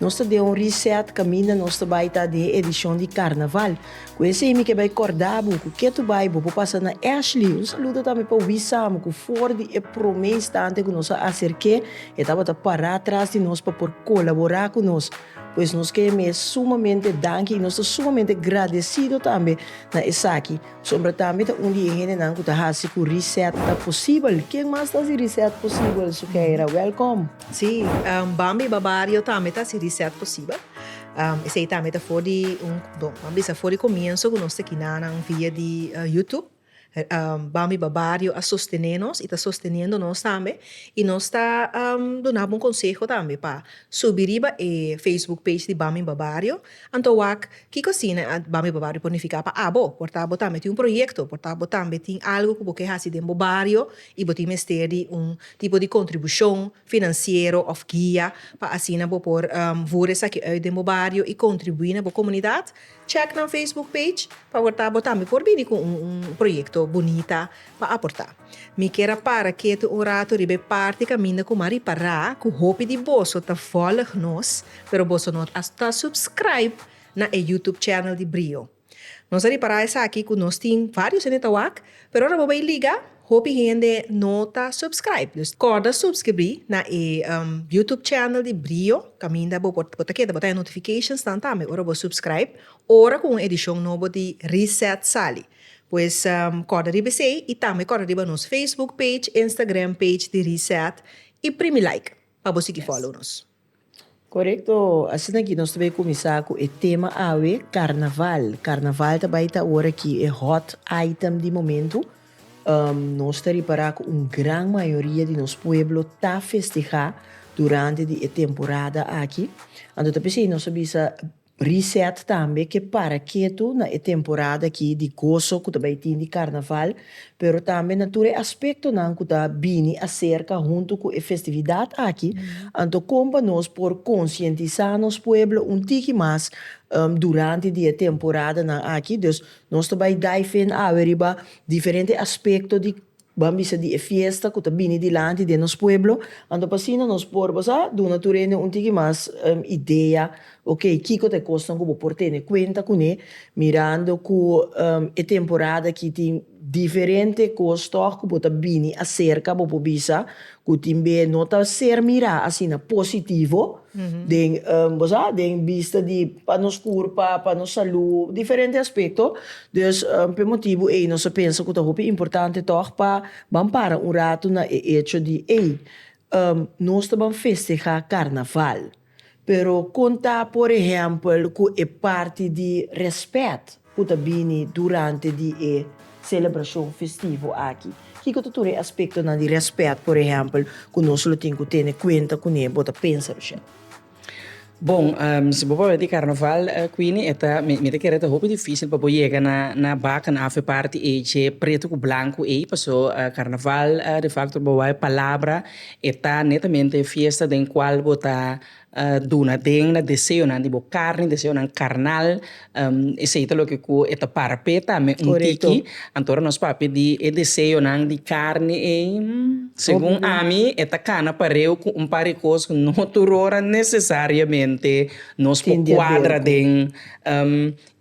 Nos ta den un reset kaminda nos ta bai ta den edishon di Karnaval. Ku esei mi ke bai kòrda bo ku ketu bai bo por pasa na Ashley. Un saludo tambe pa Wis Samu ku for di e promé instante ku nos a aserké e tabata pará atras di nos pa por kolaborá ku nos. Pues nos ke mi e sumamente danki i nos ta sumamente gradesido tambe na esaki. Sombra tambe ta un di e hendenan ku ta hasi ku reset ta posibel. Ken mas ta hasi reset posibel? Sukeira, wèlkòm! Sí, bambi ba bario tambe ta si reset posibel. Esei tambe ta for di un, bon, bo a bisa for di komienso ku nos ta kina nan via di YouTube. Bambi ba bario a sostené nos i ta sosteniendo nos tambe i nos ta dunaba un konseho tambe pa subi riba e facebook page di Bambi ba bario. Anto wak kiko asina Bambi ba bario por nifiká pa abo? Por ta bo tambe tin un proyekto, por ta bo tambe tin algu ku bo ke hasi den bo bario i bo tin mester di un tipo di kontribushon finansiero òf guia pa asina bo por voer esaki ùit den bo bario i kontribuí na bo komunidat, chèk nan facebook page pa wòrd ta bo tambe por bini ku un proyekto bunita pa aportá. Mi kier a para ketu un ratu riba e parti kaminda ku mi a ripará ku hopi di boso ta vòlig nos, pero boso no ta subscribe na e youtube channel di Brio. Nos a repará esaki ku nos tin varios hende ta wak, pero ora bo bai liga hopi hende no ta subscribe. Dus kòrda subskribí na e YouTube channel di Brio kaminda bo por ta keda bo ta haña notifications nan tambe ora bo subscribe ora ku un edishon nobo di Reset sali. Pues kòrda riba esei i tambe kòrda riba nos Facebook page, Instagram page di Reset i primi like pa bo sigui follow nos. Korekto, asina aki nos ta bai kuminsá ku e tema awe, karnaval. Karnaval ta bai ta ora ki e hòt aitem di momentu. Nos ta ripará ku un gran mayoria di nos pueblo ta festihá durante di e temporada aki. Anto ta p'esei nos a bisa. Reset tambe ke para ketu na e temporada aki di goso ku ta bai tin di Karnaval, pero tambe na tur e aspektonan ku ta bini aserka huntu ku e festividat aki, anto kon pa nos por konsientisá nos pueblo un tiki mas durante di e temporadanan aki. Dus nos ta bai daifen awe riba diferente aspekto di Ban bisa di e fiesta cu ta bini dilanti den nos pueblo, anto pa asina nos por bo sa duna tur hende un tiki mas idea, ok, kico ta e cosnan cu bo por tene cuenta cune, mirando cu e temporada aki tin diferente cos tog cu bo ta bini acerca, bo por bisa Cu tin be no ta ser mira asina positivo den, bo sa, den bista di pa nos curpa, pa nos salud, diferente aspecto. Dus p'e motibu ey nos a pensa cu ta hopi importante toch pa ban para un rato na e hecho di ey, nos ta ban festeha Carnaval. Pero kon ta, por ehèmpel, ku e parti di rèspèt ku ta bini durante di e selebrashon festivo aki? Kiko ta tur e aspektonan di rèspèt, por ehèmpel, ku nos lo tin ku tene kuenta kuné? Bo ta pensa Rochelle. Bon, si bo pabia di karnaval, Queenie, e ta, mi ta kere e ta hopi difísil pa bo yega na bakna òf e parti ei, dje pretu ku blanku ei, paso karnaval defakto bo wak e palabra. E ta netamente e fiesta den cual bo ta duna den na deseonan di bo carni, deseonan carnal, esey ta loke cu e ta para p'e tambe un tiki. Anto ora nos papia di e deseonan di carni ey, segun ami e ta cana pareu cu un par di cos cu no tur ora necesariamente nos por cuadra den.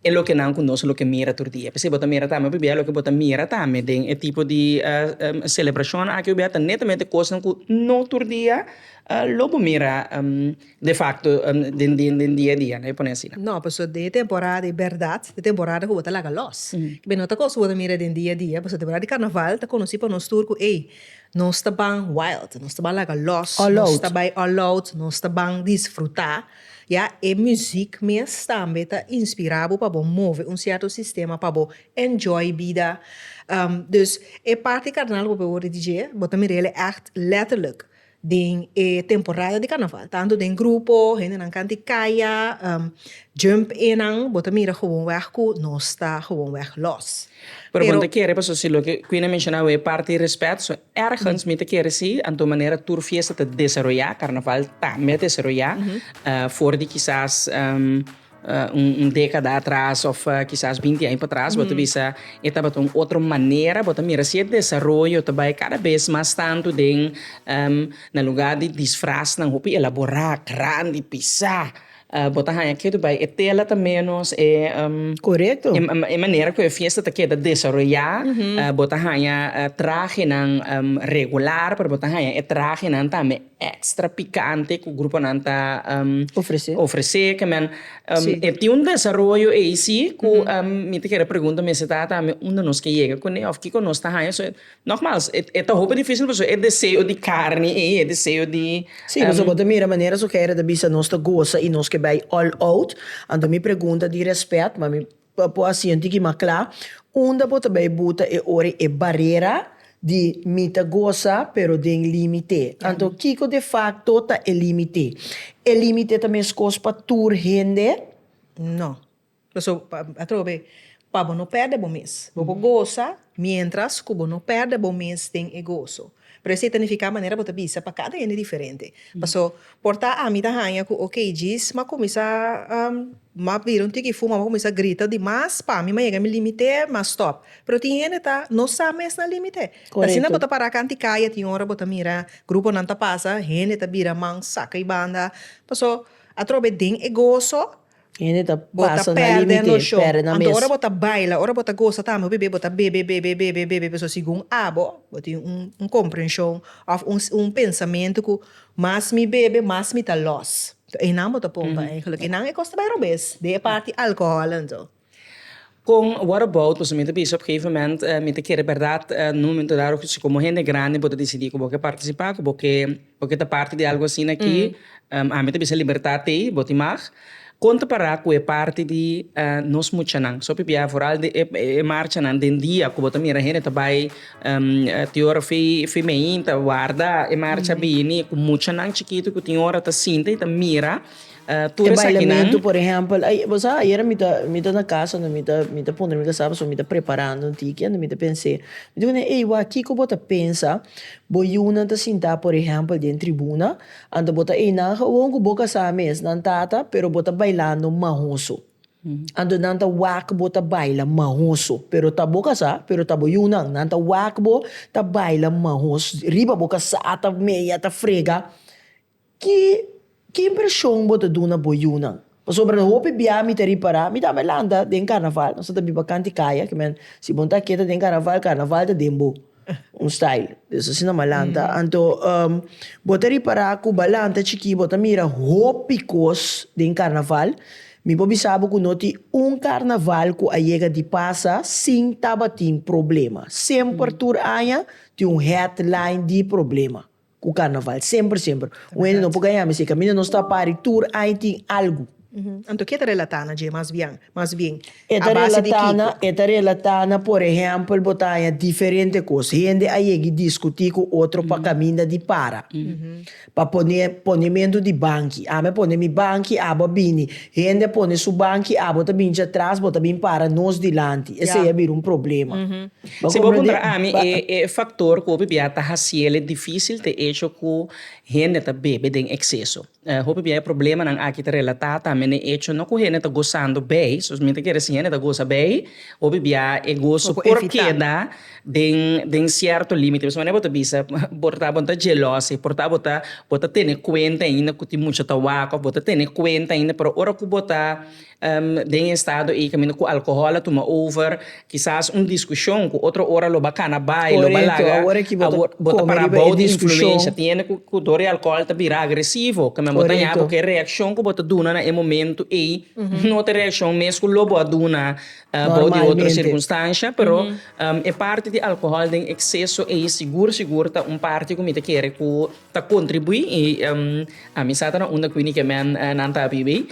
e loke nan ku nos loke mira tur dia. P'esei bo ta mira tambe pabia loke bo ta mira tambe den e tipo di selebrashonnan aki pabia ta netamente kosnan ku no tur dia lo bo mira de fakto den den dia dia, lo pone asina. No, pasobra den e temporada di bèrdat, e temporada ku bo ta laga lòs. P'esei no ta kos ku bo ta mira den dia dia, pasobra temporada di karnaval ta konosí pa nos tur ku ei, nos ta ban wild, nos ta ban laga lòs, nos ta bai all out, nos ta ban disfrutá. Ya e muziek mes tambe ta inspira bo pa bo move un sierto sistema pa bo enjoy bida. Dus e parti carnaval cu bo word di DJ bo ta mira el'e echt letterlijk den e temporada di carnaval tanto den grupo hendenan kanti kaya jump enan bo ta mira gewoon weg cu nos ta gewoon weg los. Pero bon ta kere pasobra si loke Quinne menshona awe e parti respet. Ergens mi ta kere si anto manera tur fiesta ta desaroyá, karnaval tambe a desaroyá for di kisas un dékada atras òf kisas binti aña patras. Bo ta bisa e tabata un otro manera. Bo ta mira si e desaroyo ta bai kada bes mas tantu den na lugá di disfrasnan hopi elaborá, grandi, pisá. Bo ta haña kier di bai e tela ta ménos e Korekto. E manera ku e fiesta ta keda desaroyá, bo ta haña trahenan regular, pero bo ta haña e trahenan tambe èkstra pikante ku gruponan ta Ofresé. Ofresé kemen. Si. E tin un desaroyo ei sí ku mi ta kere pregunta mi, esei ta tambe unda nos ke yega kuné òf kiko nos ta haña so Nogmals, e ta hopi difísil pasobra e deseo di karni ei, e deseo di. Sí, pasobra bo ta mira manera su Heere ta bisa nos ta goza i nos ke bai all out. Anto mi pregunta di rèspèt, ma mi pa por hasi un tiki mas kla, unda bo ta bai buta e ora ei? E barera di mi ta goza pero den límite. Anto kiko de fakto ta e límite? E límite ta meskos pa tur hende? No. Pasobra bo ta atrobe pa bo no pèrdè bo mes. Bo por gosa miéntras ku bo no pèrdè bo mes den e goso. Pero esei ta nifiká manera bo ta bisa pa kada hende diferente. Pasó, por ta ami ta haña ku okey djis m'a kuminsá m'a bira un tiki fuma, m'a kuminsá grita di mas pa mi m'a yega mi límite, m'a stòp. Pero tin hende ta no sa mes nan límite. Ta asina bo ta pará kantu kaya tin ora bo ta mira gruponan ta pasa, hende ta bira man saka i banda. Pasó, atrobe den e goso. Hende ta pasa na limite, perde na mes. Anto ora bo ta baila, ora bo ta gosa tambe hopi be, bo ta bebe, bebe, bebe, bebe, pasobra segun abo bo tin un un komprenshon òf un un pensamentu ku mas mi bebe mas mi ta lòs. Einan bo ta pompa eigelik einan e kos ta bai robes den e parti alkohòl anto. Kon What About pasobra mi ta bisa op gegeven moment mi ta kere bèrdat na un momento dado si komo hende grandi bo ta disidí ku bo ke partisipá, ku bo ke bo ke ta parti di algu asina aki, ami ta bisa libertat ei, bo tin mag. Kon ta para ku e parti di nos muchanan? So pipia foral di e e marchanan den dia ku bo ta mira hende ta bai ti ora fi fi meinta warda e marcha bini ku muchanan chikitu ku tin ora ta sinta i ta mira. E bailamentu por ehèmpel, bo sa ayera mi ta mi ta na kas ando mi ta mi ta puntra mi kasaba so mi ta preparando un tiki ando mi ta pens'é mi ta wini ey wak kiko bo ta pensa bo yunan ta sinta por ehèmpel den tribuna anto bo ta ey nan gewoon ku bo kasa mes nan tata pero bo ta bailando mahoso anto nan ta wak bo ta baila mahoso pero ta bo kasa pero ta bo yunan nan ta wak bo ta baila mahoso riba bo kasa ta meya ta frega Ki ki impreshon bo ta duna bo yunan? Pasobra lo hopi biaha mi ta ripará, mi tambe lanta den karnaval, nos a ta biba kanti kaya, ki men si bo ta keda den karnaval, karnaval ta den bo, un style des asina m'a lanta, anto bo ta ripará ku b'a lanta chikí bo ta mira hopi kos den karnaval, mi por bisa bo ku no tin un karnaval ku a yega di pasa sin tabatin problema, semper tur aña tin un headline di problema. Cu carnaval semper semper. Un hende no por gaña mi si e caminda nos ta pari tur aña tin algu. Anto ke ta relata na dje mas bian mas bien a base di kiko? E ta relata na por ehempel bo ta haña diferente cos. Hende a yegi discuti cu otro pa caminda di para, pa pone ponemento di banki. Ami a pone mi banki abo a bini. Hende a pone su banki abo ta binchi atras bo ta bin para nos dilanti. Esey a bira un problema. Si bo puntra ami e e faktor ku hopi bia ta hasiel e difísil ta e echo ku hende ta bebe den ekseso. Hopi bia e problemanan aki ta relatá tambe na e echo no ku hende ta gosando bei, so mi ta kere si hende ta gosa bei, hopi bia e goso por keda den den sierto límite. Pasobra manera bo ta bisa por ta bo ta jelosi, por ta bo ta bo ta tene kuenta ainda ku tin mucha tabak òf bo ta tene kuenta ainda, pero ora ku bo ta. Den e estado ei caminda cu alcohol a tuma over, kisas un discusion cu otro ora lo ba cana bay, lo ba laga, bo ta para abao di influencia. Tiene cu dor e alcohol ta bira agresivo, caminda bo ta yaha porque e reaccion cu bo ta duna na e momento ei no ta e reaccion mes cu lo bo a duna abao di otro circunstancia. Pero e parti di alcohol den exceso ei sigur sigur ta un parti cu mi ta kere cu ta kontribuí i ami sa ta na unda ku e Nikemen nan ta bibi.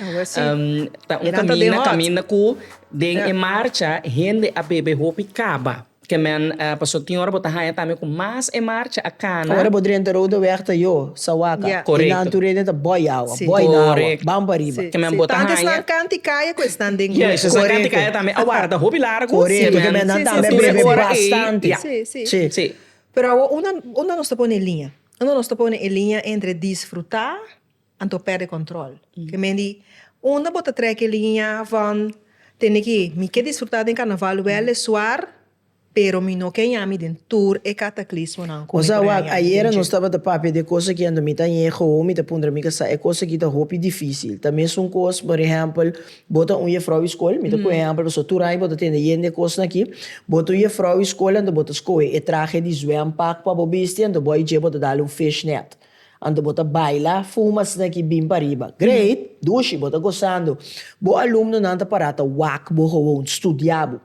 Ta un kaminda, un kaminda ku den e marcha hende a bebe hopi kaba. Kemen pasobra tin ora bo ta haña tambe ku mas e marcha a kana. Ora bo drenta Rode Weg ta yo, Sawaka, e nan tur hende ta bòi awa, bòi na awa, bam pariba. Kemen bo ta haña. Si tantu esnan kanti kaya ku esnan den grupo. Yes, esnan kanti kaya tambe a warda hopi largu. Korekto, kemen nan tambe a bebe bastante. Si, si. Pero awo unda unda nos ta pone e liña? Unda nos ta pone e liña entre disfrutá anto pèrdè kòntròl? Ke men di, unda bo ta trèk e liña van tene ki mi ke disfrutá den karnaval wèl e suar, pero mi no ke yami den tur e kataklismonan ku mi por a yami. Ayera nos tabata papia di e kos aki anto mi ta yega owo mi ta puntra mi kasa e kos aki ta hopi difísil. Ta mesun kos, por ehèmpel, Bo ta un jefrou di skol, mi ta pone ehempel pasobra tur aña bo ta tende yen di e kosnan aki. Bo ta un jefrou di skol, anto bo ta skohe e trahe di zwempak pa bo bisti, anto bo a dje bo ta dal un fishnet. Anto bo ta baila fu mas asina aki bin pariba. Great! Dushi! Bo ta gosando. Bo alumnonan ta para ta wak bo, gewoon, studia bo.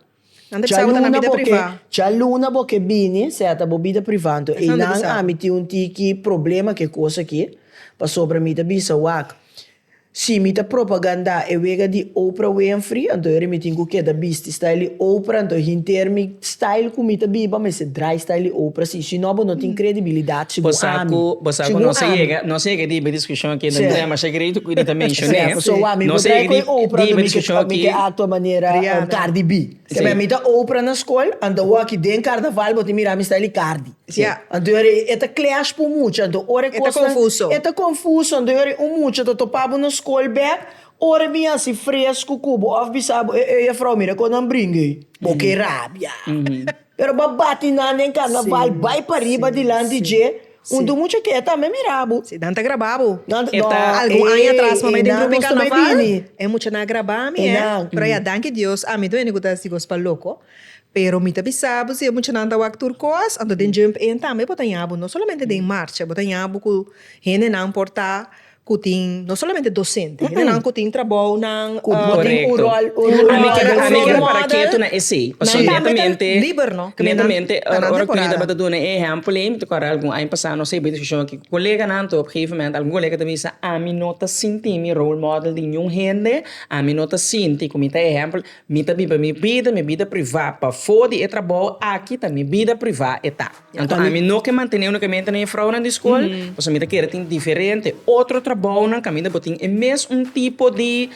Chaluna bo ke chaluna bo ke bini seta bo bida priva anto einan ami tin un tiki problema ke kos aki pasobra mi ta bisa wak si mi ta propaganda e wega di Oprah Winfrey anto ere mi tin ku keda bisti style di Oprah anto hinter mi style ku mi ta biba mester drai style di Oprah si. Si no bo no tin kredibilidat si bo ami. Pasa ku nos a yega nos a yega di iba diskushon aki nos trae masha kredito ku Edita menshoné. Nos a yega di iba diskushon aki. Mi ke aktua manera kardi bi. Sema mi ta Oprah na skol anto awo aki den karnaval bo tin mira mi style di kardi. Anto yor e ta clash pu mucha anto ora e kosnan. E ta konfuso. E ta konfuso anto yor un mucha ta topa bo na skol bek ora bin hasi fresku ku bo of bisa bo ey ey juffrou mira kon nan bringa ey bo ke rabia. Pero bo a bati nan den karnaval, bai pariba dilanti dje, un tu mucha ke ta me mira bo. Si nan ta graba bo, e ta algun aña atras mamey den grupo di karnaval, e mucha nan a graba mi eh, pero ya danki Dios ami ta bini ku ta si kos pa loko, pero mi ta bisa bo si e mucha nan ta wak tur kos, anto den Jump In tambe bo ta yabu, no solamente den marcha, bo ta yabu ku hende nan por ta. cu tin, no solamente docente, nan cu tin trabou nan cu bo tin un rol, un rol, un rol, un rol model, nan tambe ta liber, no? Ke men nan ta nan temporada. Ora cu mi tabata duna e ehempel ey, mi ta corda algun aña pasado, no serbí discusion aki cu coleganan to, op gegeven moment algun colega ta bisa, ami no ta sinti mi role model di niun hende, ami no ta sinti cu mi ta ehempel, mi ta biba mi bida, mi bida privá, pafó di e trabou aki ta mi bida privá e ta. Anto ami no ke mantene unu kamiente na e fraunan di skol, pasobra mi ta kere tin diferente otro trabounan kaminda bo tin e mes un tipo di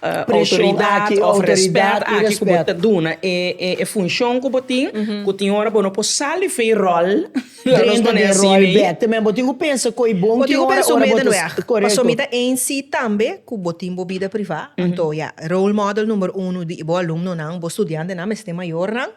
outoridat òf rèspèt aki ku bo ta duna e funshon ku bo tin, ku tin ora bo no por sal di fe ròl, lanos pone asi mi. Bo tin ku pensa ku e bon ki ora ora bo ta korekto. Paso mi ta ein si tambe ku bo tin bo bida privá, anto ya role model numero uno di bo alumnonan, bo studiantenan, mester mayornan,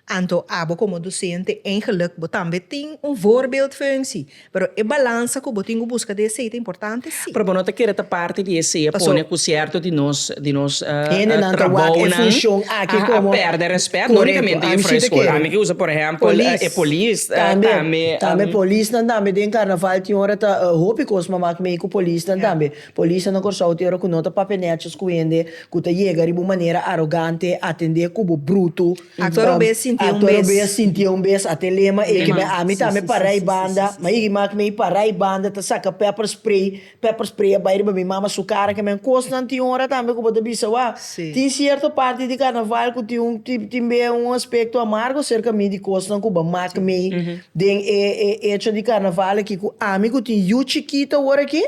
Anto abo komo dosente eingeluk bo tambe tin un voorbeeldfunksie, pero e balansa ku bo tin ku buska den esei ta importante? Si. Pero bo no ta kere ta parti di esei pone ku sierto di nos di nos trabounan a perde respet, no unikamente Jufrou e Skol, ami ke usa por ehèmpel e polis tambe. Tambe polisnan tambe den karnaval tin ora ta hopi kos mama ku mei ku polisnan tambe. Polisnan na Kòrsou tin ora ku no ta papia nètshos ku hende ku ta yega riba un manera arogante, atendé kubo brutu. Aktor robes sintié un bes. Aktor robes sintié un bes at'e lema ei kibè ami ta me pará ei banda, ma ei riba mi pará ei banda ta saka pepper spray, pepper spray a bai riba mi mama su kara kemen. Kosnan tin ora tambe ku bo ta bisa, Wòw, tin sierto parti di karnaval ku tin un tin be un aspekto amargo serka mi di kosnan ku bo mak mi den e echo di karnaval aki ku ami ku tin yu chikito ora ki.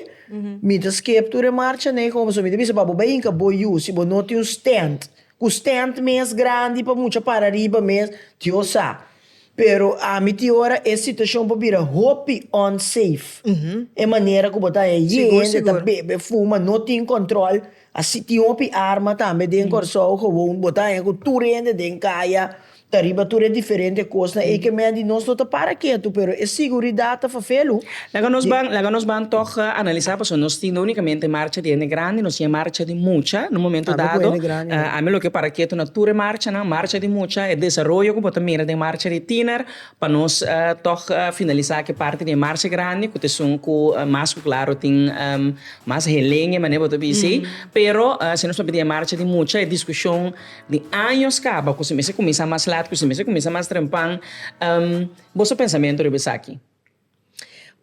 Mi ta skep tur e marcha ne komo so mi ta bisa pa bo bai hinka bo yu si bo no tin un stent ku stent mes grandi pa mucha para riba mes Dios sa pero ami tin ora e situashon por bira hopi unsafe e manera ku bo ta e yende ta bebe fuma no tin kòntròl. Así tin hopi arma tambe den Kòrsou, gewoon bo ta haña ku tur hende den kaya ta riba tur e diferente kosnan. E ke men di nos no ta para ketu, pero e siguridat ta fafel lo. Laga nos ban, laga nos ban tòg analisá, pasobra nos tin no únikamente marcha di hende grandi, nos tin e marcha di mucha na un momento dado. Tambe ku hende grandi nan. Ami loke para ketu na tur e marchanan, marcha di mucha, e desaroyo ku bo ta mira den marcha di tiner, Pa nos tòg finalisá ke parti di e marsha grandi ku ta esun ku mas ku klaru tin mas heleña manera bo ta bis'e. Pero si nos papia di e marsha di mucha e diskushon di años kaba ku si mester kuminsá mas lat ku si mester kuminsá mas trempan. Boso pensamentu riba esaki?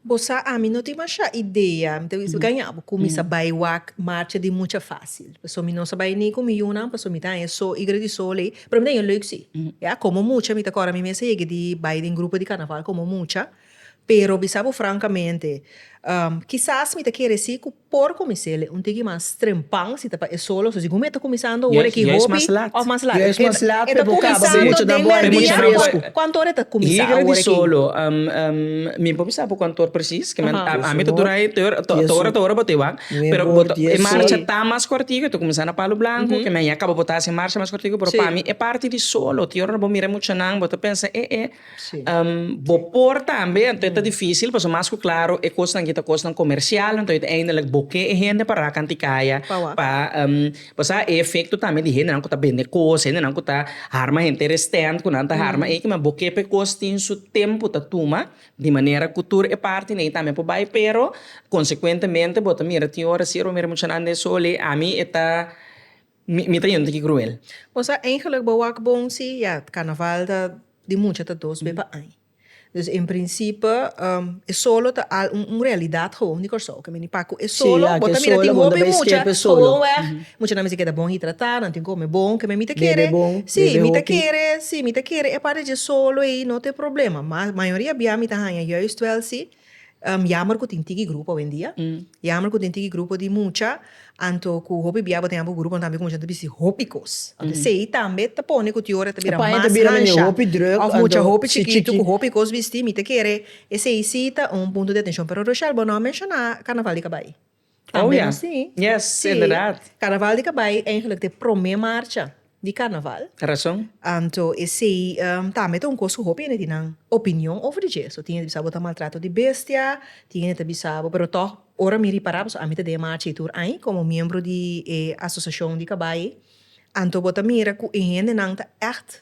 Bo sa ami no tin masha idea, mi ta bisa bo kaña bo ku mi sa bai wak marcha di mucha fasil. Pasobra mi no sa bai ni ku mi yunan, pasobra mi ta haña so igra di so lei, pero mi ta haña lèk si. Ya komo mucha mi ta kòrda mi mes a yega di bai den grupo di karnaval komo mucha, pero bisa bo frankamente, kisas mi ta kere si ku. Por kuminsele un tiki mas trempan si ta pa e solo, so si gume ta kuminsando ora ki hopi of mas lat. Yes mas lat e ta kuminsando den merdia awe kuantu ora e ta kuminsá ora ki. Liga di solo mi por bisa por kuantu ora presis ke men ami ta dura ei ta ora ta ora bo ta e wak pero bo ta e marcha ta mas kortiku e ta kuminsá na palu blanku ke men ya kaba bo ta hasi e marcha mas kortiku pero pami e parti di solo ti ora bo mira e muchanan bo ta pensa e e. Bo por tambe, anto e ta difícil pasobra mas ku klaru e kosnan aki ta kosnan komersial, anto e ta eindelijk bo ke e hende pa rakan di kaya pa bo sa e efekto tambe di hendenan ku ta bende kos, hendenan ku ta harma henter restent ku nan ta harma aki ma bo ke pe kos tin su tempu ta tuma di manera ku tur e parti nei tambe por bai pero konsekuentemente bo ta mira tin ora si e romero muchanan den soli ami e ta. Mi ta yendo ki cruel. Bo sa eigenlijk bo wak bon si ya carnaval ta di mucha ta dos be pa aña. Dus en principe e solo ta al un realidad gewoon di Kòrsou. Ke meni pak ku e solo bo ta mira tin hopi mucha gewoon wèg. Mucha nan a mester keda bon hidratá, nan tin kome bon, keme mi ta kere si mi ta kere si mi ta kere e part di dje solo ei no te problema. Mas mayoria bia mi ta haña juist wèl si Yammer cu tin tiki grupo awendia. Yammer cu tin tiki grupo di mucha. Anto cu hopi bia bo tin abu gruponan tambe cu mucha nan ta bisti hopi cos. Anto esey tambe ta pone cu tiora ta bira mas hansha. Of mucha hopi chikitu cu hopi cos bisti. Mi ta kere esey si ta un punto di atencion. Pero Rochelle bo no a menciona Carnaval di Cabai. Oh ya, yes, inderdaad. Carnaval di Kabay eigenlijk ta e prome marcha di Carnaval. Razon. Anto esey tambe ta un kos ku hopi hende tin nan opinion over di dje. So tin hende ta bisa bo ta maltrato di bestia, tin hende ta bisa bo, pero tòg ora mi ripará, pasobra ami ta den e marcha ei tur aña komo miembro di e asosiashon di kabay ei, anto bo ta mira ku e hendenan ta ègt.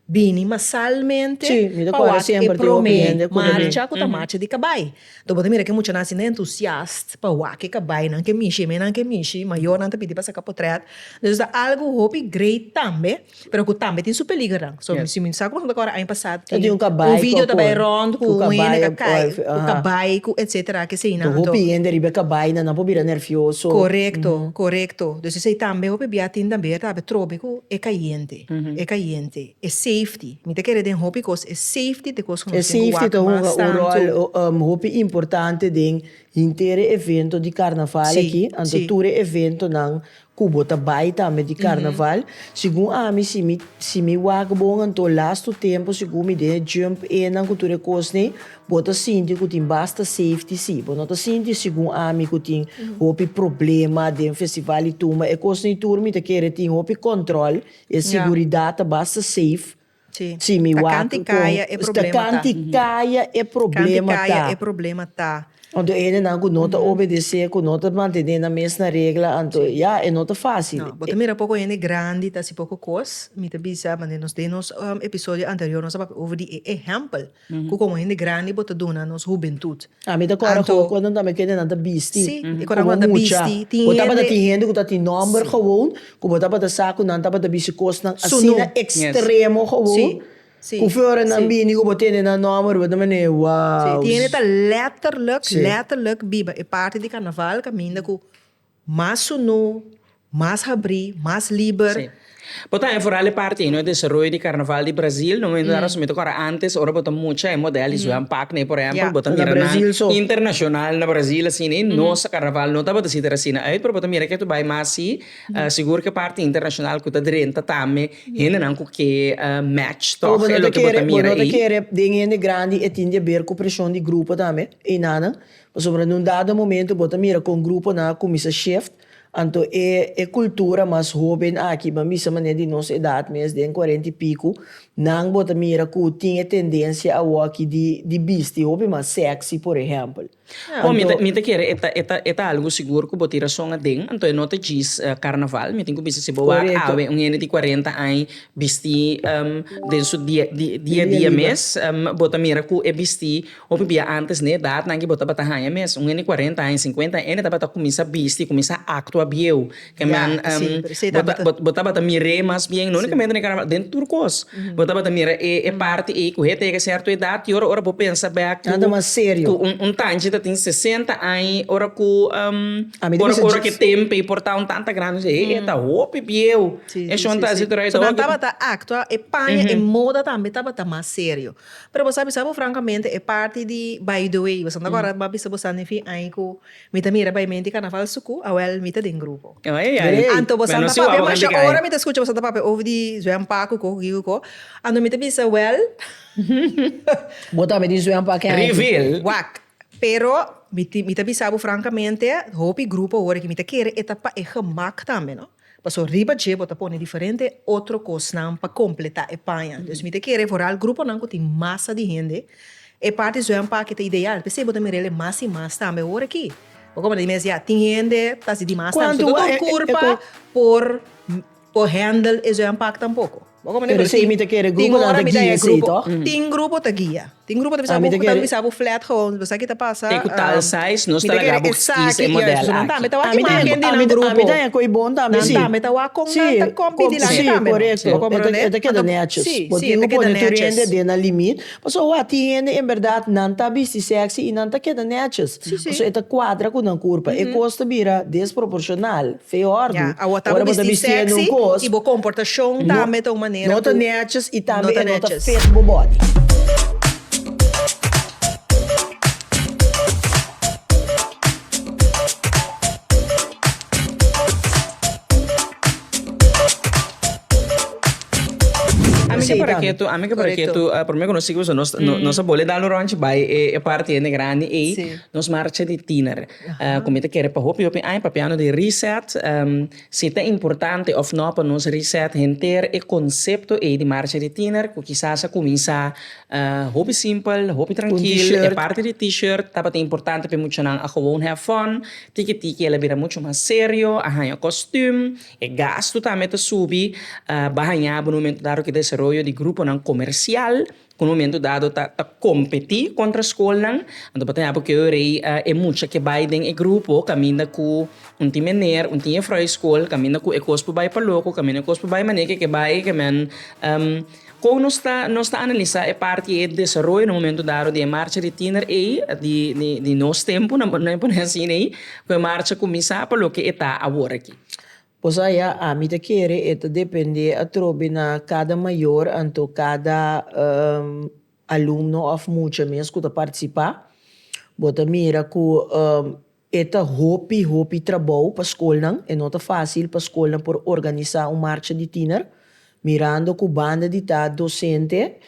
bini masalmente pa wak e prome marcha ku ta marcha di kabai. Tok bo ta mira ke muchanan asina entusiast pa wak e kabainan ke mishi, e menan ke mishi, mayornan ta pidi pa saka potrèt. Entonces ta algu hopi great tambe, pero ku tambe tin su peligernan. So, si mi sa ku boso ta kòrda aña pasá tin un video ta bai rònt ku un hende ta kai ku kabai ku etsetera ke eseinan. Ku hopi hende riba e kabai nan, nan por bira nervioso. Korekto, korekto. Entonces esei tambe hopi bia tin tambe ta habia trobe ku e kayente. e cayente, e safety. Mi ta kere den hopi cos e safety t'e cos cu nos tin cu wak mas tanto. E safety ta hunga un rol hopi importante den henter e evento di carnaval aki. Anto tur e eventonan cu bo ta bay tambe di carnaval. Segun ami, si mi, si mi wak bon anto last two tempo segun mi den e jump enan cu tur e cosnan, Bo ta sinti ku tin basta safety? Sí. Bo no ta sinti segun ami ku tin hopi problema den festival i tumba e kosnan i tur? Mi ta kere tin hopi kòntròl, e siguridat ta basta safe. Sí. Sí, mi wak kon. Ta kanti kaya e problema ta. Ta kanti kaya e problema ta. Kanti kaya e problema ta. Anto e hendenan ku no ta obedesé, ku no ta mantené nan mes na regla, anto ya, e no ta fásil. No. Bo ta mira poko hende grandi ta hasi poko kos. Mi ta bisa, maneras nos den nos episodio anterior nos a papia over di e ehèmpel. Cu como hende grandi bo ta duna nos hubentud. A mi ta corda Anto. Cu anto tambe cu hende nan ta bisti. Si, e cu nan como ta mucha. bisti. Tin Bo tabata hende. tin hende cu ta tin nomber Si. gewoon cu bo tabata sa cu nan tabata bisti cosnan Su asina nu. extremo Si, gewoon si, cu few ora nan si. bini cu bo tene nan nomber bo ta mane Si, wow. tin hende ta letterlijk, Si. letterlijk biba e parti di carnaval caminda cu. Mas sunú, mas habrí, mas liber. Sí. Bo ta enforal e parti ei, no e desaroyo di Karnaval di Brazil. No mester a resumí tok, ora antes, ora bo ta mucha e modèl di Zwem Pak nei, por ehèmpel, bo ta mira nan internashonal na Brazil asina i nos Karnaval no tabata si ta er asina uit, pero bo ta mira ke ta bai mas sí. Sigur ke parti internashonal ku ta drenta tambe hendenan ku ke match tòg. E loke bo ta mira ei. Bo no ta kere den hende grandi e tin di haber ku preshon di grupo tambe, einanan. Pasobra n'un dado momento bo ta mira kon gruponan a kuminsá shift, anto e e kultura mas hóben aki, bo a bisa manera di nos edat mes, den kuarenta i piku, nan bo ta mira ku tin e tendensia awor aki di di bisti hopi mas sèksi, por ehèmpel. Kon mi ta mi ta kere e ta e ta e ta algu sigur ku bo tin rason aden, anto e no ta djis karnaval, mi tin ku bisa si bo wak awe un hende di kuarenta aña bistí den su dia dia dia mes, bo ta mira ku e bistí Hopi bia antes n'e edatnan aki bo tabata haña mes, un hende cuarenta aña, cincuenta aña, hende tabata cuminsa bisti, cuminsa actua bieu. Bo tabata mir'é mas bien, no unicamente n'e carnaval, den tur cos. Bo tabata mira e e parti ei cu he ta yega certo edat y ora ora bo pensa bek cu un tanchi ta tin sesenta aña ora cu ora ora cu tempo ei por ta un tanta grandi he e ta hopi bieu. E shon ta hasi tur ei ta hopi. So nan tabata actua, e paña, e moda tambe tabata mas serio. Pero bo sa bisa bo frankamente e parti di by the way boso no ta kòrda bo a bisa bo sa nifi ai ku mi ta mira by menti karnaval suku awèl mi ta den grupo. Anto boso no ta papia masha ora mi ta skucha boso ta papia over di zwèm pa ku ko ku ki ku ko anto mi ta bisa wèl Bo ta papia di zwèm pa ken ai ki wak pero mi ta bisa bo frankamente hopi grupo ora ki mi ta kere e ta pa e gemak tambe no. Paso riba dje bo ta pone diferente otro kosnan pa kompletá e paña. Dus mi ta kere foral gruponan ku tin masa di hende. E parti Zuian Paki ta ideal, p'esei bo ta mira el e mas i mas tambe ora aki. Bo kobra di mes ya tin hende ta hasi di mas tambe. So, no tur kurpa por handle e Zuian Pak tampoko. Pero si mi ta kere grupo nan ta guia esei to. Tin grupo ta guia. Tin grupo ta bisa bo ta bisa bo flat goals bisa ki ta pasa. Te ku tal size nos ta laga bo kis e model aki. Nan tambe ta wak ki maken di nan grupo. Ami ta hen koi bon tambe si. Nan tambe ta wak kon nan ta kompi di laga tambe no. Si korekto. Bo komprende? E ta keda netjes. Si si e ta keda netjes. Bo tin ku pone tur hende den nan limit. Paso awa tin hende en berdad nan ta bisti sexy i nan ta keda netjes. Paso e ta kuadra ku nan kurpa. E kos ta bira desproporshonal. Fe ordu. Ora bo ta bisti hende un kos, no ta netjes i tambe e no ta fit bo body. Ami ke paraketu, ami ke paraketu, prome ku nos sigiba nos a bole dal un ronchi bai e parti hende grandi ei, nos marcha di tiner. ku mi ta kere pa hopi hopi aña papiando di reset, si ta importante òf nò pa nos reset henter e konsepto ei di Marcha di Tiener ku kisas a kuminsá hopi simpel, hopi trankil. E parti di T-shirt tabata importante pa e muchanan a gewoon have fun. Tiki tiki el a bira muchu mas serio, a haña kòstùm, e gastu tambe ta subi. Bahañá bo nu momento dado ku e desaroyo di gruponan komersial. Un momento dado ta ta competi contra scolnan, anto bo ta yapo cu e rey e mucha ke bay den e grupo caminda cu un tin meneer, un tin juffrouw e scol, caminda cu e cos por bay pa loco, caminda cu e cos por bay manera ke ke bay ke men con nos ta nos ta analisa e parti e desaroyo na momento dado di e marcha di tiener ey di di di nos tempo nan nan por asina ey cu e marcha cuminsa pa loke e ta awor aki. Pues aya, ami ta kere e ta depende atrobe na kada mayor anto kada alumno of mucha mes ku ta participa. Bo ta mira ku e ta hopi hopi trabou pa skolnan. E no ta fácil pa skolnan por organisa un marcha di tiner. Mirando ku banda di ta docente,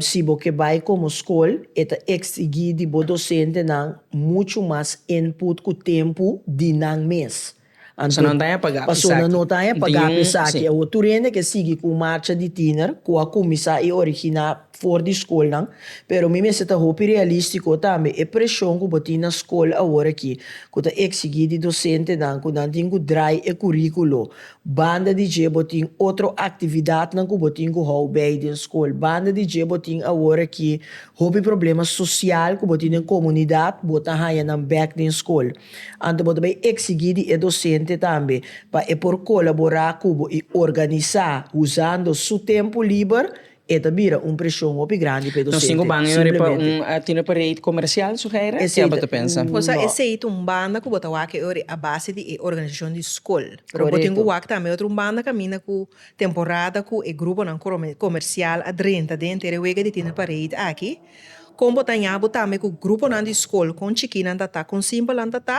si bo ke bai komo skol, e ta eksigi di bo docentenan muchu mas input ku tempu di nan mes. Persona no ta haña pagá pa esaki. Awor tur hende ke sigui ku un marcha di tiner ku a kuminsá i originá for di skolnan. Pero mi mester ta hopi realístiko tambe. E preshon ku bo tin na skol awor aki, ku ta eksigí di dosentenan ku nan tin ku drai e kuríkulo. Banda di dje bo tin otro aktividatnan ku bo tin ku hou bei den skol. Banda di dje bo tin awor aki hopi problema sosial ku bo tin den komunidat, bo ta haña nan bèk den skol. Anto bo ta bay exigí di e docente tambe pa e por colaborá cu bo y organizá usando su tempo liber, e ta bira un presion hopi grandi pa e docente. Nos cinco ban e ora pa un tino pa rate comercial, Suheira? Esey Ki'A bo ta pensa? Bo sa No. esey ta un banda cu bo ta wak e ora a base di e organizacion di scol. Pero bo tin cu Coreto. wak tambe otro un banda caminda cu temporada cu e gruponan crom comercial a drenta den ter e wega di tino pa rate aki. Kon bo ta ña bo tambe ku gruponan di skol kon chikinan ta ta, kon simpelnan ta ta,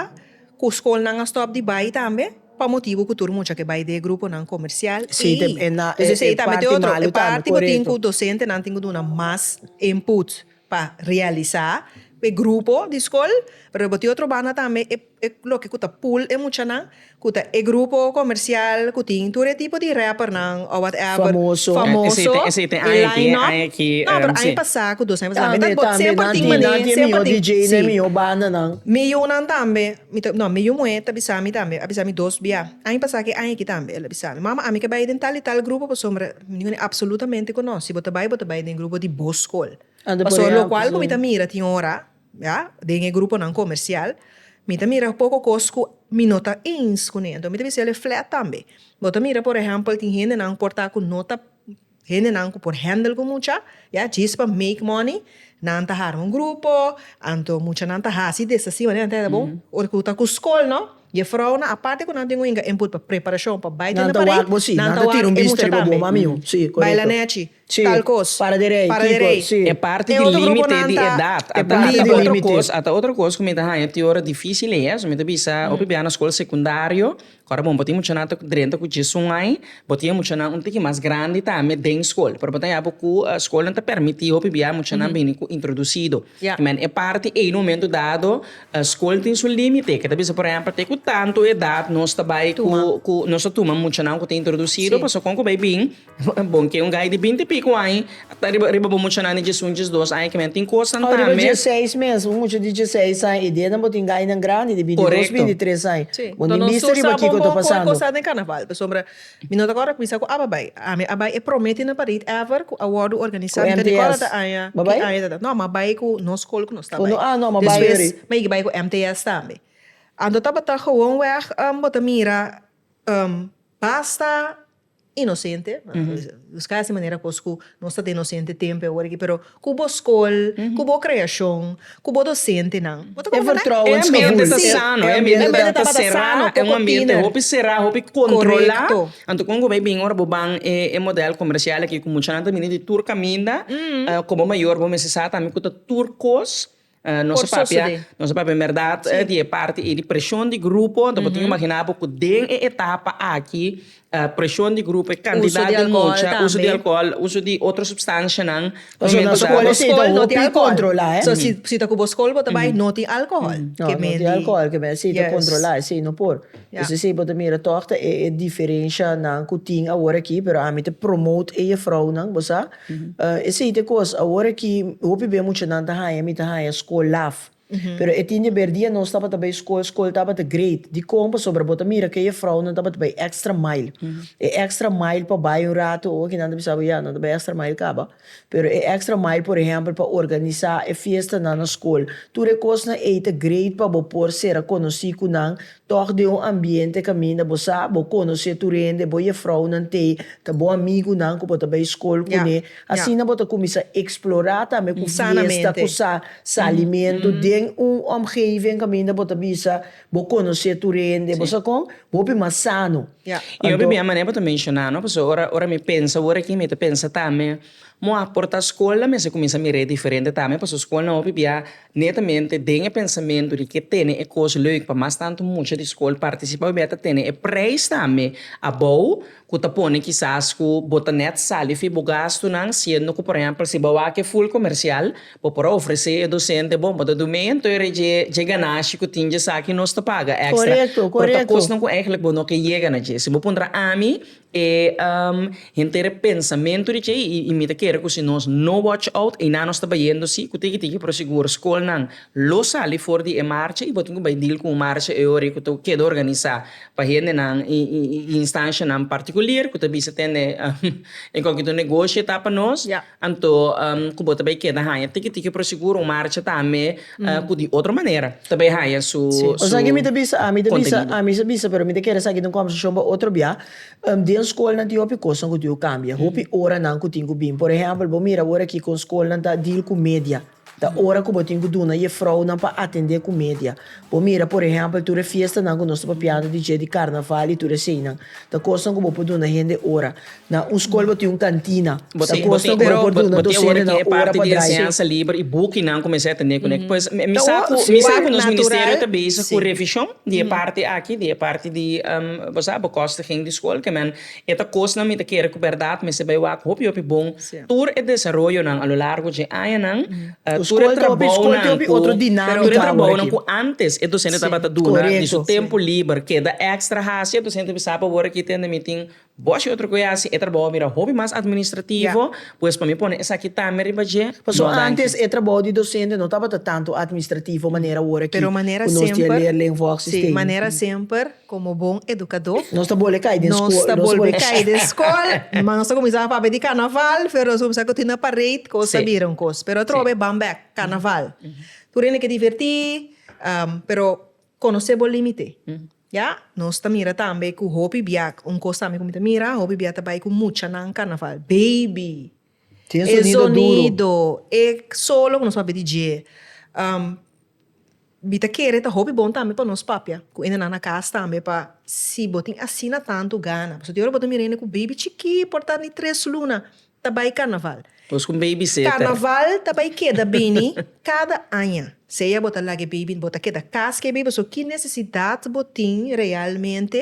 ku skolnan a stòp di bai tambe pa motibu ku tur mucha ke bai den e gruponan komersial i dus esei tambe ta e otro e parti bo tin ku dosentenan tin ku duna mas input pa realisá bo e grupo di skol pero bo tin otro banda tambe e. E loke ku ta pull e muchanan ku ta e grupo komersial ku tin tur e tipo di rappernan ò whatever famoso e line up no pero aña pasá ku dos aña pasá tambe ta bot semper tin manera semper tin si miyunnan tambe mi ta no mi yu muhé ta bisa mi tambe a bisa mi dos bia aña pasá ke aña aki tambe el a bisa mi mama ami ke bai den tal i tal grupo pasobra mi dijo apsolutamente ku no si bo ta bai bo ta bai den grupo di bo skol pasobra lokual ku mi ta mira tin ora. Ya, den e gruponan komersial mi ta mira poko kos ku mi no ta ins ku nende. Mi ta bisa el'e flèt tambe. Bo ta mira por ehèmpel tin hendenan por ta ku no ta hendenan ku por hèndel ku mucha, ya, djis pa make mòni nan ta arma un grupo anto muchanan ta hasi desasi manera nan ta hèn bon ora ku ta ku skol no jefrounan aparte ku nan tin ku yinka input pa preparashon pa bai tende parei nan ta wak e mucha tambe. Bai la nèchi. Si, para di rei. Kiko? Si. E parti di límite di edat a ta otro kos, a ta otro kos ku mi ta haña ti ora difísil e eso. Mi ta bisa hopi bia na skol sekundario, ku ora bon bo tin muchanan ta drenta ku djesun ai, bo tin e muchanan un tiki mas grandi tambe den skol. Pero bo ta haña bo ku skolnan ta permití hopi bia muchanan bini ku introdusido. Kimin e parti ei na un momento dado skol tin su límite, ke ta bisa por ehèmpel te ku tantu edat nos ta bai ku nos ta tuma muchanan ku ta introdusido, pasobra kon ku bai bin Bon ke un gai di binti piku aña a ta riba riba bo muchanan di diesunches dos aña kimen? Tin kosanan tambe. Riba dieseis mes, un mucha di dieseis aña i denan bo tin gainan grandi di bintidos, bintitres aña. Bo nin bisti riba kiko ta pasando. Mi no ta kòrda ku mi sa ku aba bai. Ami a bai e promé tin na Parit ever ku a wòrdu organisá. Mi ka di kòrda ta aña ki aña ta ta. No, mi a bai ku nos skol ku nos ta bai. Despues mi a yega bai ku MTS tambe. Anto tabata gewoon wèg bo ta mira basta inosente, buska esei manera kos ku nos ta ta inosente tempu e ora aki, pero ku bo skol, ku bo kreashon, ku bo dosentenan, bo ta kobra nan e ambiente ta sano, e ambiente ta será, e un ambiente hopi será, hopi kontrolá, anto kon ku bai bin ora bo ban e modèl komersial aki ku muchanan ta bini di tur kaminda, komo mayor bo mester sa tambe ku ta tur kos Nos a papia, nos a papia berdad di e parti ei di preshon di grupo. Anto bo tin imaginá bo ku den e etapa aki preshon di grupo, e kantidat di mucha, uso di alkohòl, uso di otro supstanshanan. So si ta ku bo skol bo ta bai no tin alkohòl kemen di. Esei bo ta mira tòg ta e diferenshanan ku tin awor aki pero ami ta promote e jefrounan, bo sa. Esei ta e kos, awor aki hopi b'e muchanan ta haña, mi ta haña skol laf. Pero e tin di aber dia nos tabata bai skol, skol tabata great. Dikon? Pasobra bo ta mira ku e jefrounan tabata bai extra mile. E extra mile pa bai un ratu, oki nan ta bisa bo ya nan ta bai extra mile kaba. Pero e extra mile por ehèmpel pa organisá e fiestanan na skol. Tur e kosnan ei ta great pa bo por sera konosí ku nan Tòg den un ambiente kaminda bo sa bo konosé tur hende, bo yefrounan te ta bo amigunan ku bo ta bai skol kuné. Asina bo ta kuminsá eksplorá tambe ku fiesta ku sa salimentu den un òmgeving kaminda bo ta bisa bo konosé tur hende, bo sa kon? Hopi mas sano. I hopi bia manera bo ta menshoná, no? Pasobra ora, ora mi pensa word aki mi ta pensa tambe, mi a por ta skol la mi a si kuminsá mir'é diferente tambe, pasobra skolnan hopi bia Netamente den e pensamentu di ke tene e kos leuk pa mas tantu mucha di skol partisipá pabia ta tene e preis tambe abou ku ta pone kisas ku bo ta nèt sali fi bo gastunan siendo ku por ehèmpel si bo a wak e ful komersial bo por a ofresé e dosente bon bo ta dun mei anto e rei dje dje ganashi ku tin dje sa ki nos ta paga èkstra pero ta kosnan ku èigelik bo no ke yega na dje si bo puntra ami E henter e pensamentu di tjei i mi ta kere ku si nos no wòch out einan nos ta bayendo si ku tiki tiki pero sigur skolnan lo sali for di e marcha i bo tin ku bai dil ku un marcha e ora ei ku ta keda organisá pa hendenan i instanshanan partikuler ku ta bisa tende en kòkè tur negoshi e ta pa nos. Anto ku bo ta bai keda haña tiki tiki pero sigur un marcha tambe ku di otro manera ta bai haña su kontenido. Esaki e mi ta bisa, ami ta bisa, ami sa bisa pero mi ta kere esaki ta un kòmbersashon pa otro bia, den skolnan tin hopi kosnan ku tin ku kambia, hopi oranan ku tin ku bin. Por ehèmpel bo mira awor aki kon skolnan ta deal ku media. Ta ora ku bo tin ku duna jefrounan pa atendé ku media. Bo mira por ehèmpel tur e fiestanan ku nos ta papiando di dje di karnaval i tur eseinan. Ta kosnan ku bo por duna hende ora. Na un skol bo tin un kantina. Ta kosnan ku bo por duna dosentenan ora pa drai. E ta kosnan mi ta kere ku bèrdat mester bai wak hopi hopi bon. Tur e desaroyonan a lo largo dje añanan, tur e trabounan ku, tur e trabounan ku ántes e dosente tabata duna di su tempu liber keda èkstra hasi, e dosente bisa apa wor aki tende mi tin bòshio otro ku e hasi. E trabou a bira hopi mas atministrativo, pues pa mi pone esaki tambe riba dje. Pasobra ántes e trabou di dosente no tabata tantu atministrativo manera wor aki ku nos tin e leer, leen, wòk sistema. Komo bon edukadó, Nos ta bol'e kai den skol. Nos ta bolbe kai den skol. Mama nos ta kuminsá papia di karnaval, pero nos kuminsá ku tin na parade, ku nos ta bira un kos. Pero atrobe ban bèk karnaval. Tur hende ke divertí, pero konosé bo límite. Ya nos ta mira tambe ku hopi biak, un kos tambe ku mi ta mira, hopi biak ta bai ku muchanan karnaval, baby Tin e sonido e solo ku nos papia di dje mi ta kere ta hopi bon tambe pa nos papia ku ende nan na kas tambe pa si bo tin asina tantu gana pasobra di ora bo ta mira ende ku beibi chikí por ta di tres luna ta bai karnaval karnaval ta bai keda bini kada aña sea bo ta laga e beibi bo ta keda kas ku e beibi so ki nesesidat bo tin realmente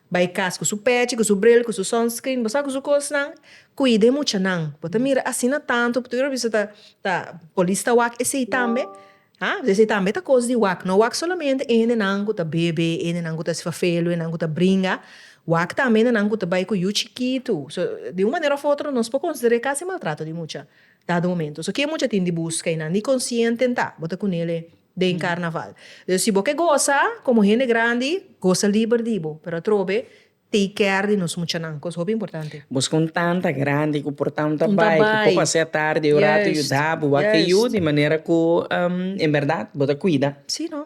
Bai cas cu su pechi, cu su bril, cu su sunscreen, bo sa cu su cosnan, cuida e muchanan, bo ta mira asina tanto, tur a bisa ta ta polis ta wak esey tambe, ha esey tambe ta cos di wak, no wak solamente endenan cu ta bebe, endenan cu ta esfafelo, endenan cu ta bringa, wak tambe endenan cu ta bai cu yu chikitu, so di un manera of otro nos por considera e casi maltrato di mucha dado momento, so ki e mucha tin di busca y nan di consciente ta bo ta cunele. den carnaval. Dus si bo ke gosa como hende grandi, gosa liber di bo, pero atrobe take care di nos muchanan, cos hopi importante. Bos con tan ta grandi cu por tan ta bai, cu por pas'e atardi un rato yuda bo, wak e yu di manera cu en berdad bo ta cuida. Si no.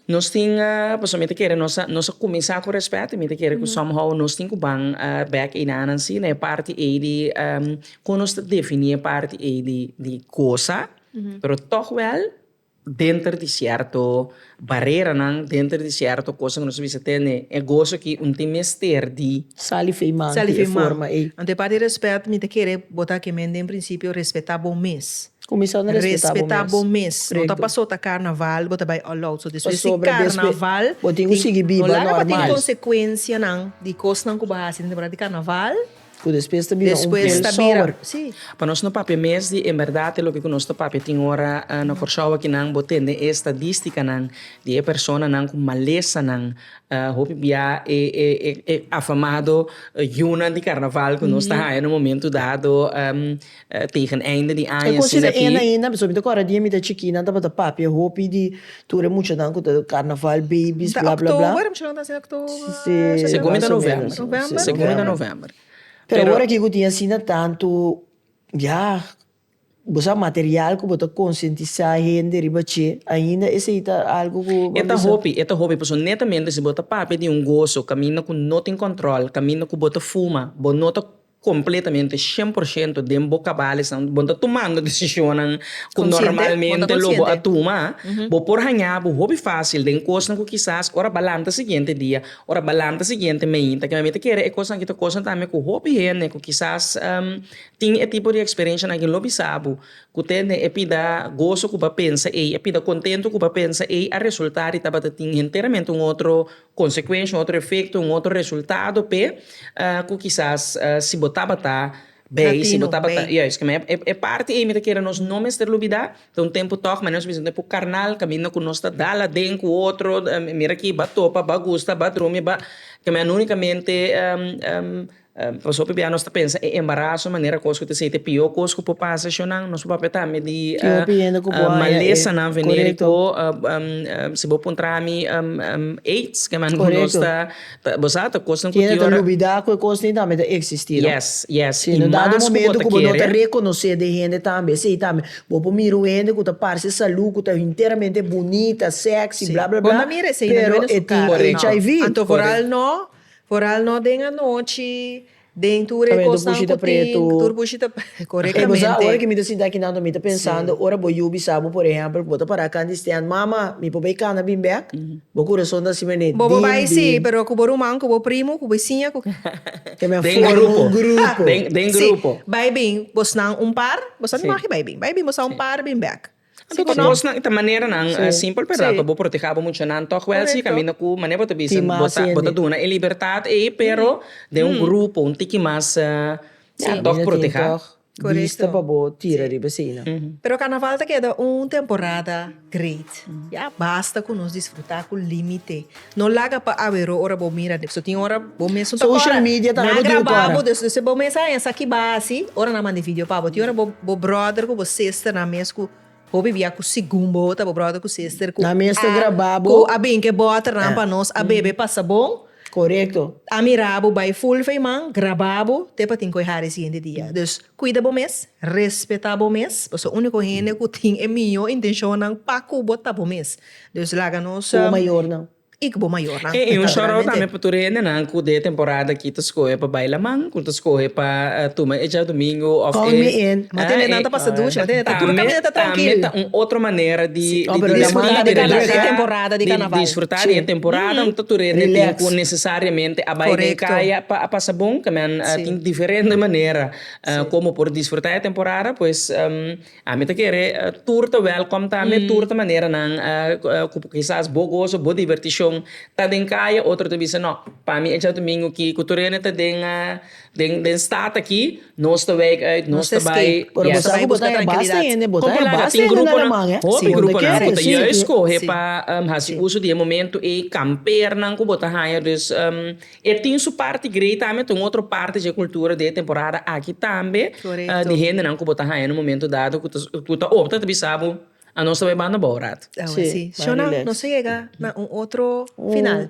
Nos tin, pasobra mi ta kere nos a nos a cuminsá cu respet y mi ta kere cu somehow nos tin cu ban bek enanan si na e parti ei di con nos ta defini e parti ei di di gosa. Pero tog wel denter di cierto bareranan, denter di cierto cosa cu nos a bisa tene e gozo aki un tin mester di. Sali fey man di e forma ey. Anto e parti respet mi ta kere bota ke men den principio respeta bo mes. Cuminsando respeta bo mes. Respeta bo mes. No ta paso ta carnaval bo ta bay all out. So despues di carnaval. Pasobra despues bo tin cu sigui biba normal. No laga pa tin consecuencianan di cosnan cu bo hasi den temporada di carnaval. Ku despues ta bira un pel sober. Pa nos no papia mes di en berdad e loke ku nos ta papia tin ora na Kòrsou akinan bo tende e estadístikanan di e personanan ku malesanan hopi bia e e afamado yunan di karnaval ku nos ta haña na momentu dado. Tegen einde di aña asina aki. E cosita ena ainda, pasobra mi ta corda día mi ta chiquí nan tabata papia hopi di tur e muchanan cu ta carnaval babies bla bla bla. October, muchanan ta naci october. Segun mi ta november. November? Segun mi ta november. Pero awor aki cu tin asina tantu ya bo sa material cu bo ta concientisa hende riba dje ainda esey ta algo cu bo ta bisa. E ta hopi, e ta hopi pasobra netamente si bo ta papia di un gozo caminda cu no tin control, caminda cu bo ta fuma, bo no ta completamente, cien por ciento, den bo cabalisnan, bo no ta tumando decisionnan cu normalmente lo bo a tuma, bo por haña bo hopi facil den cosnan cu kisas ora ba lanta siguiente dia, ora ba lanta siguiente mainta, kiba mi ta kere e cosnan aki ta cosnan tambe cu hopi hende cu kisas tin e tipo di experiencianan aki lo bisa bo cu tende e pida gozo cu ba pensa ey, e pida contento cu ba pensa ey a resulta di tabata tin enteramente un otro consecuencia, un otro efecto, un otro resultado p'e cu kisas si bo tabata bay, si bo tabata. Latino, bay. Juist, kima e, e parti ey mi ta kere nos no mester lubida, ta un tempo tog, mane nos bisa un tempo carnal, caminda cu nos ta dal aden cu otro, mira aki, ba topa, ba gusta, ba drumi, ba, kima unicamente Nos hopi bia nos ta pensa e embaraso manera kos ku ta esei ta e pió kos ku por pasa shonnan. Nos por papia tambe di malesanan venir ku si bo puntra mi aids ke manera ku nos ta bo sa ta kosnan ku ti ora yes yes i mas ku bo ta kere. Correcto. Foral no den anochi, den tur e cosnan cu tin, tur bushi ta pretu, corectamente. Esa ora que mi ta sinta aki nan mi ta pensando, ora bo yu bisa bo por ehempel cu bo ta para can di stand, Mama, mi por bay cana bin bek? Bo curason ta siempre nen, Bobo bay si, pero cu bo ruman, cu bo primo, cu bo siña, cu. Ta mi a forma un grupo. Den grupo. Si, bay bin, bosnan un par, bosa no magi bay bin, bay bin bosa un par bin bek. Anto cu cosnan ta maneranan simpel perda pa bo protege abo muchanan tog wel si caminda cu mane bo ta bisa bo ta duna e libertad ey pero den un grupo un tiki mas ya tog proteha bista pa bo tira riba eseynan. Pero carnaval ta keda un temporada great ya basta cu nos disfruta cu limite No laga pa aweró ora bo mira dipso tin ora bo mesun ta kora nan grababo despues bo mes a esaki basi ora nan mandi video pabo tin ora bo brother ku bo sister nan mes ku hopi bia ku segun bo ta bo brother ku sister ku a bin ke boter nan pa nos a bebe pasa bon a mirabo bai full fei man grababo te pa tin ku e hari siguiente dia dus kuida bo mes respeta bo mes pasobra uniko hende ku tin e mihó intenshonnan pa ku bo ta bo mes. Dus laga nos. Ku bo mayornan. I ku bo mayornan. E un shout out tambe pa tur e hendenan ku den e temporada aki ta skohe pa bai laman, ku ta skohe pa tuma e djadumingu òf e. Call me in. M'a tende nan ta pasa dushi, m'a tende ta tur kaminda ta trankil. Tambe ta un otro manera di disfruta di laman di temporada di kanaval. Di disfruta di e temporada. No ta tur e hende tin ku nesesariamente a bai den kaya pa a pasa bon. Kaminda tin diferente manera komo por disfruta e temporada, pues. Ami ta kere tur ta wèlkòm ta mi tur ta maneranan ku kisas bo goso bo divirtishon ta den kaya otro ta bisa nò pa mi e djadumingu ki ku tur hende ta den den stad aki nos ta wèk ùit nos ta bai yes kon ku laga tin gruponan hopi gruponan ku ta juis skohe pa hasi uso di e momentu ei kampeernan ku bo ta haña dus. E tin su parti grei tambe, ta un otro parti dje kultura de e temporada aki tambe, di hendenan ku bo ta haña na un momentu dado ku ta opta ta bisa bo anos ta bai banda bou rat. Awe si. Shona, nos a yega na un otro final.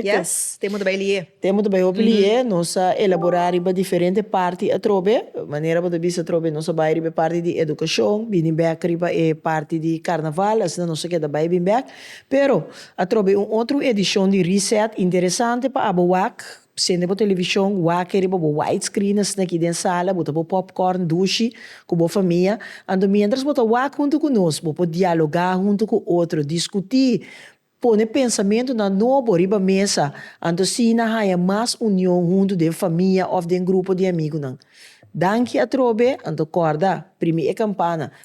Yes, temo ta bai li'e. Temo ta bai hopi li'e. Nos a elaborá riba diferente parti atrobe. Manera bo ta bisa atrobe, nos a bai riba e parti di edukashon, bini bèk riba e parti di karnaval, asina nos a keda bai bin bèk. Pero, atrobe un otro edishon di Reset interesante pa abo wak, sende bo televishon wake riba bo widescreeners aki den sala, bo ta bo popcorn dushi ku bo famia, anto miéntras bo ta wak huntu ku nos, bo por dialogá huntu ku otro, diskutí, pone pensamentunan nobo riba mesa, anto asina haña mas union huntu den famia òf den grupo di amigunan. Danki atrobe, anto kòrda, primi e kampana,